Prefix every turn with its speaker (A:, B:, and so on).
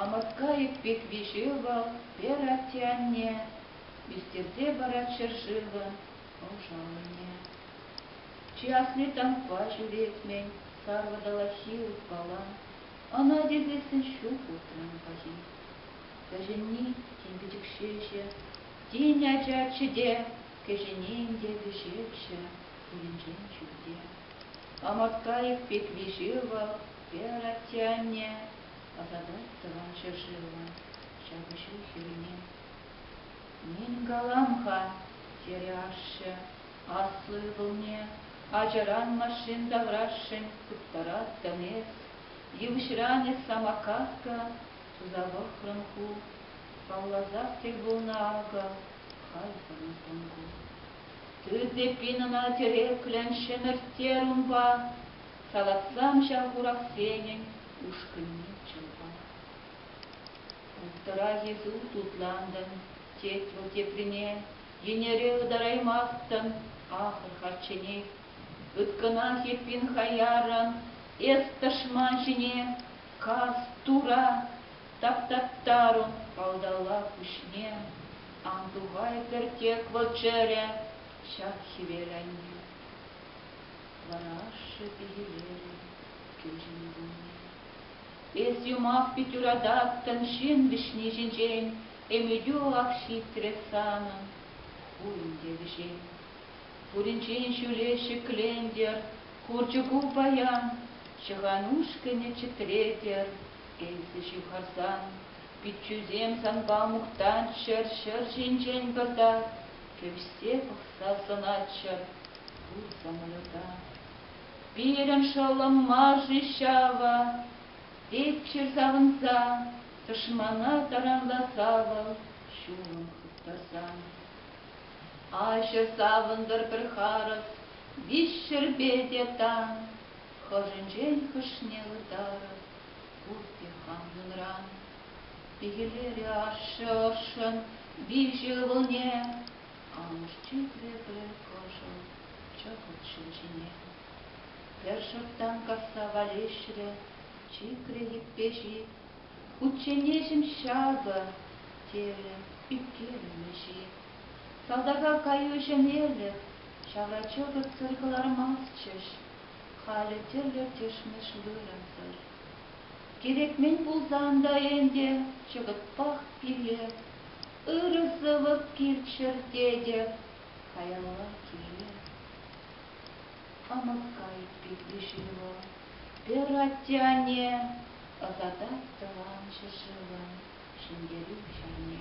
A: Амоткаев пек виҫе вӑл, Пера атте анне, Мистерсе парать ҫӗршывӑ ӑшалне. Чи асли танкпа ҫӳретмен, Сар водолахи упала, Ӑна тивлессӗн ҫук утран паҫи. Кӗҫӗнни тем пӗчӗк ҫеҫе, Тин ачаччӗ те, кӗҫӗнен те вӗҫепҫӗ, пуринчен чӳрте. Аматкайӑк пек виҫе вӑл, пер, атте-анне, ӑсатать тӑван ҫӗршывӑма ҫапӑҫу хирне. Нин калам-ха, терӗ ашшӗ, аслӑ ывӑлне, ачаран машин таврашшӗн тыттараттӑн эс, йывӑҫран эс самокатка, Туса пӑхрӑм ку, палласах те пулнӑ акӑ, халь пӑрӑнтӑм ку. Тӳсепин ӑна тӗреклӗн ҫӗмӗрттерӗ унпа, салатсам ҫав хурахсенӗн ушкӑнне чӑлпа. Уттӑрах Иисус тутлантӑм, тет вӑл теприне, йӗнере ытараймастӑн, ахӑр харчченех. Ыткӑнах эппин хаяррӑн, эс тӑшман ҫине Каҫ тура таптаттарун палталла пуҫне ан тухай кӗртек вӑл чӗрӗ ҫак хӗвел айне. Ларашшӗ пикелерӗ кӳл ҫыннине. Эс юмах пит юрататтӑн ҫын вӗҫни ҫинчен, Ӗмӗтӳ ак ҫитрӗ санӑн, пуйӑн те вӗҫен. Пуринчен ҫӳле ҫӗклентӗр, Хурчӑку паян, Ҫӑхан ушкӑнӗ чӗтретӗр. Эсӗ ҫывхарсан Пиччӳсем санпа мухтанччӑр, Ҫӗр ҫинчен пӑрта Кӗвҫсе пӑхса сӑнатчӑр Пур самолета. Пирӗн шӑллӑм мар-ши ҫавӑ? Теччӗр савӑнса, Тӑшмана таранласа вӑл Ҫулӑм хыптарсан. Аҫӑр савӑнтӑр пӗр харӑс, виҫ ҫӗрпе те тан, Хӑшӗнчен хӑшне ытарӑр пурте хамӑнран. Пикелерӗ ашшӗ ӑшшӑн виҫӗ ывӑлне, Амӑш чикрӗ пӗр кӑшӑл чӑкӑт ҫул ҫине. Пӗр шӑрттан касса валеҫрӗ, чикрӗ йӗппе ҫип Кучченеҫӗм ҫакӑ, терӗ ӳпкелемӗҫ-и. Салтака каю ҫӗнелӗх, ҫавра чӑкӑтсӑр кӑлармастчӗҫ. Халӗ тӗрлӗ-тӗшмӗш вырӑнсӑр. Кирек-мӗн пулсан та ӗнтӗ чӑкӑтпах пире ырӑ сӑвӑ килччӗр тетӗп. Каялла киле. Амакай пирки ҫыру. Пӗр атте-анне ӑсатать тӑван ҫӗршывӑн ҫӗнтерӳ ҫулне.